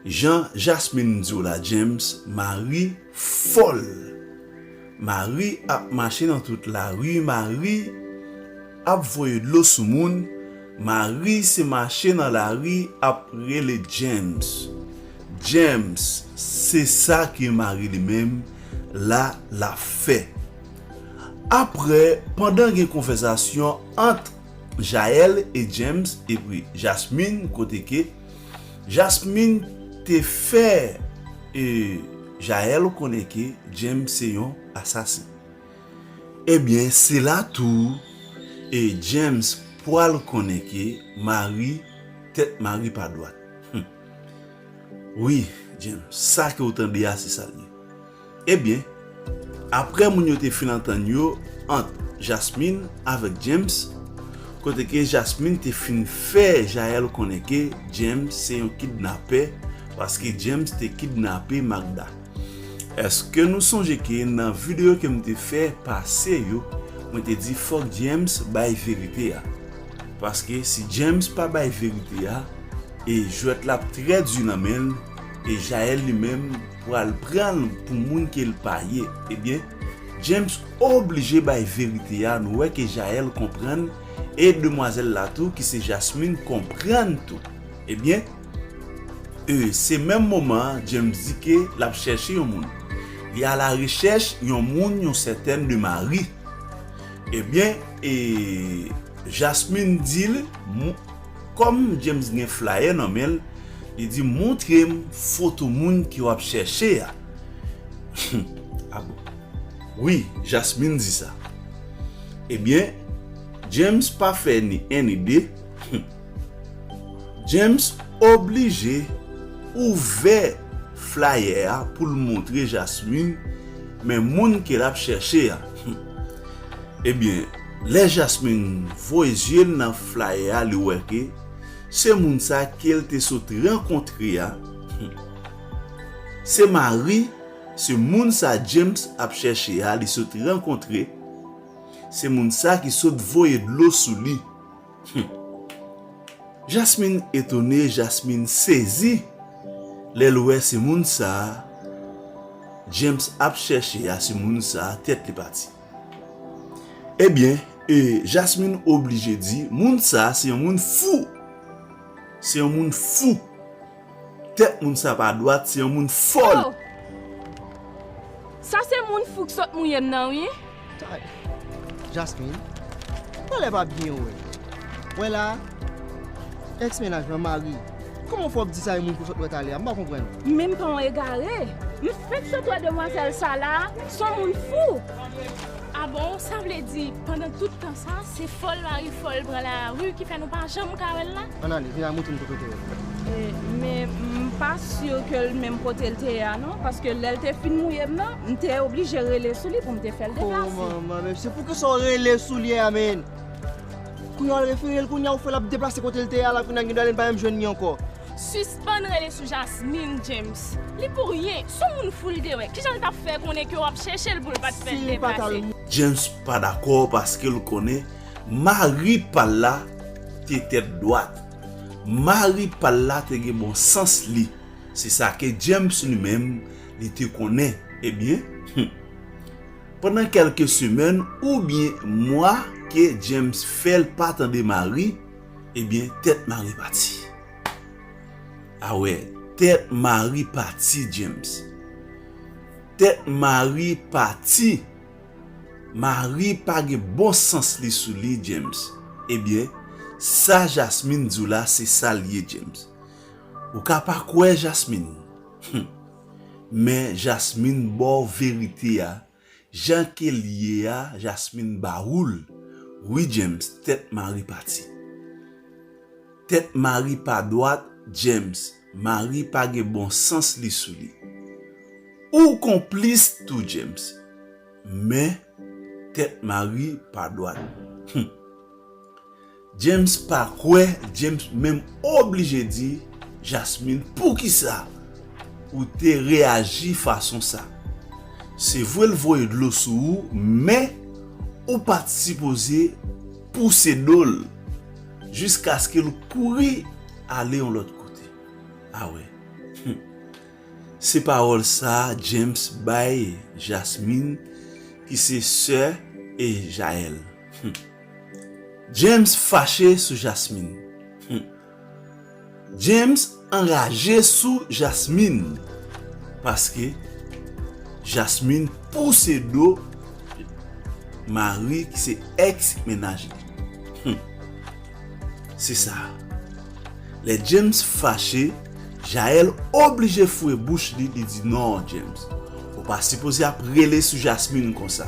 Jan jasmine diw la James mari fòl mari ap mache nan tout lari mari ap voye dlo sou moun mari se mache nan lari ap rele James James se sa ki mari li menm la lap fè aprè pandan gen konvèzasyon ant Jael et James epui Jasmine kote ke Jasmine te fè e Jael konnen ke James se yon asasen ebyen se la tou e James pwal konnen ke mari tèt mari pa dwat humm wi James sa ke ou tande a se sa l ye. Ebyen, aprè moun yo te fin antann yo ant Jasmine avèk James, kote ke Jasmine te fin fè Jael konnen ke James se yon kidnapè paske James te kidnape Magda. Eske nou sonje ke nan video ke m te fè pase yo, mwen te di fòk James bay verite a. Paske si James pa bay verite a, e jwèt la ap trè di nan men l, e Jael li menm, pral pranl pou moun kel pa ye ebyen James oblije bay verite a nou wè ke Jael konprann e demwazèl la tou ki se Jasmine konprann tou ebyen e se menm moman an James di ke lap chèche yon moun li a la rechèch yon moun yon sètèn de Marie ebyen e Jasmine dil moun. Kòm James gen flayè nan men l, li di, Montre m foto moun ke w ap chèche a. Humm, a bon? Wi, Jasmine di sa. Ebyen, James pa fè ni 1 ni 2, humm. James oblije ouvè flayè a pou l montre Jasmine men moun ke l ap chèche a. Humm. Ebyen, Lè Jasmine voye zye l nan flyer a li wè ke se moun sa ke l te sot rankontre a se mari se moun sa James ap chèche a li sot rankontre se moun sa ki sot voye dlo sou li humm Jasmine etone Jasmine sezi lè l wè se moun sa James ap chèche a se moun sa tèt li pati. Ebyen, e Jasmine oblije di, moun sa se yon moun fou! Se yon moun fou! Tèt moun sa pa dwat, se yon moun fòl! Aww! Sa se moun fou k sot mouye m nan wi! Tay! Jasmine, pa lè pa byen wè! Wè la a? Ex mennaj mwen mari! Kòman w fè wap di sa yon moun ke w sot wè talè a? M pa konprann. Menm pa yon egare! M fenk sot wè demwazèl sa la a, s on moun fou! A bon, sa vle di pandan tout tan sa a se fòl mari fòl pran lari ki fè nou pa janm ka wè l la? Ann ale, vin al montre m kote w te wè l. Men, m pa si ke l menm kote l te ye a non, paske lè l te fin mouye m nan, m te oblije rele sou li pou m te fè l deplase. O manman, men se pou kisa w rele sou li a menn? Kounya wal referel kounya ou fè lap deplase kotel te ye a la kounya gen dwa li pa menm jwenn li ankò. Sispann rele sou Jasmine James li pou ryen son moun fou li te wè kijan li tap fè konnen ke wap chèchel poul pat fèl deplase. James pa dakò paskel konnen mari pal la te tèt dwat mari pal la te gen bon sans li se sa ke James li menm li te konnen ebyen humm. Pandan kèlke semèn oubyen mwa ke James fèl pa tande Mari, ebyen tèt Mari pati. A wè, tèt Mari pati James. Tèt Mari pati. Mari pa gen bon sans li sou li James. Ebyen, sa Jasmine di w la se sa l ye James. Ou ka pa kwè Jasmine. Hum. Men jasmine baw verite a jan kel ye a jasmine ba oul wi James tèt mari pati tèt mari pa dwat James mari pa gen bon sans li sou li ou konplis tou James men tèt mari pa dwat humm. James pa kwè James menm oblije di Jasmine poukisa ou te reyaji fason sa se vre l voye dlo sou ou men ou pat sipoze pouse do l jiskaske l kouri ale yon lòt kote a wè humm se pawòl sa James bay Jasmine ki se sè Jael humm. James fache sou Jasmine humm. James anraje sou Jasmine paske Jasmine pouse do mari ki se ex mennaj li humm. Se sa lè James fache Jael oblije foure bouch li, li di non James ou pa sipoze ap rele sou Jasmine konsa.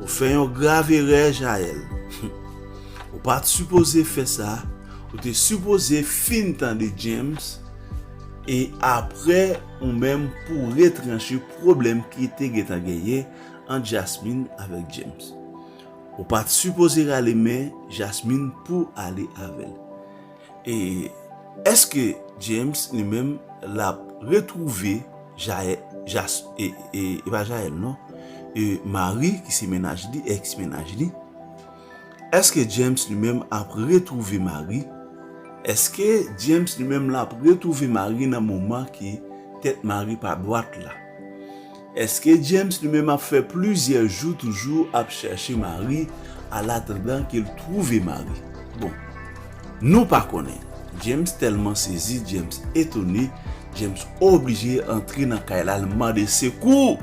Ou fè yon grav erè Jael. Ou pat sipoze fè sa, ou te sipoze fin tande James e aprè ou menm pouw retranche pwoblèm ki te gentan genyen ant Jasmine avèk James. Ou pat sipoze rale men Jasmine pouw ale avèl. E eske James li menm lap retrouve Jael jas e e pa Jael non e Marie ki se mennaj li ex mennaj li eske James li menm ap retrouve Marie eske James li menm lap retrouve Marie nan moman ki tèt Marie pa dwat la. Eske James li menm ap fè plizyè jou toujou ap chèche mari al atandan ke l twouve mari bon nou pa konnen James tèlman sezi James etone James oblije antre nan kay la l mande sekou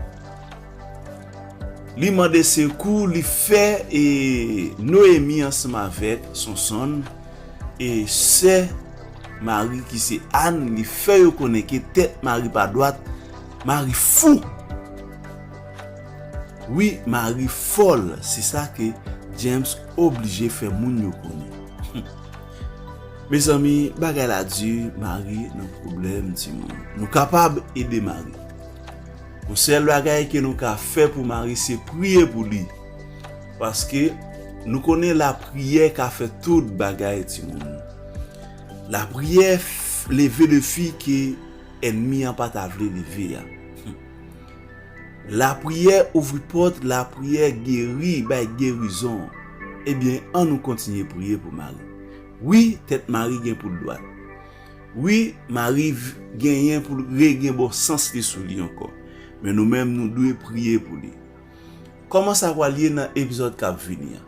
li mande sekou li fè e Noémie ansanm avèk Sonsonn e sè mari ki se Anne li fè yo konnen ke tèt mari pa dwat Mari fou! Wi Mari fòl se sa ke James oblije fè moun yo konnen. Mezanmi bagay la di Mari nan pwoblèm timoun. Nou kapab ede Mari. Yon sèl bagay ke nou ka fè pou Mari se priye pou li. Paske nou konnen lapriyè ka fè tout bagay timoun. Lapriyè leve defi ke. Ènmi an pa ta vle leve a. Humm. Lapriyè ouvri pòt, lapriyè geri, bay gerizon. Ebyen an nou kontinye priye pou Mari. Wi tèt Mari gen poul dwat. Wi Mari genyen poul re gen bon sans li sou li ankò. Men nou menm nou dwe priye pou li. Kòman sa pral ye nan epizòd kap vini an?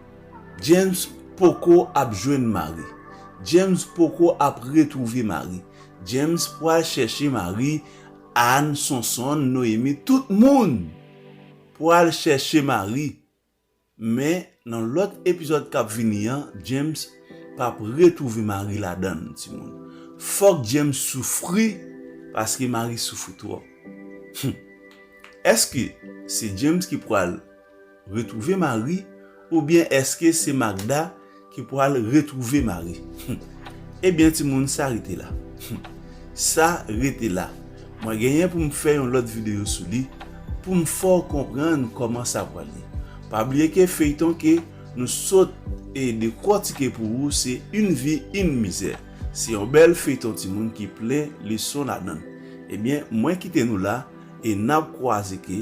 James poko ap jwenn Mari. James poko ap retwouve Mari. James pwal chèche mari Anne sonsonn noemi tout moun pwal chèche mari men nan lòt epizòd kap vini an James pap retwouve mari ladann timoun fòk James soufri paske mari soufri twòp humm èske se James ki pwal Retrouve mari ou byen eske se magda ki pwal retrouve mari humm ebyen timoun sa rete la humm sa rete la mwen genyen poum fè yon lòt video sou li poum fèw konprann kòman sa pwal ye pa bliye ke feyton ke nou sot e dekwòtike pou ou se yn vi yn mizè se yon bèl feyton timoun ki plen leson ladann ebyen mwen kite nou la e nap kwaze ke.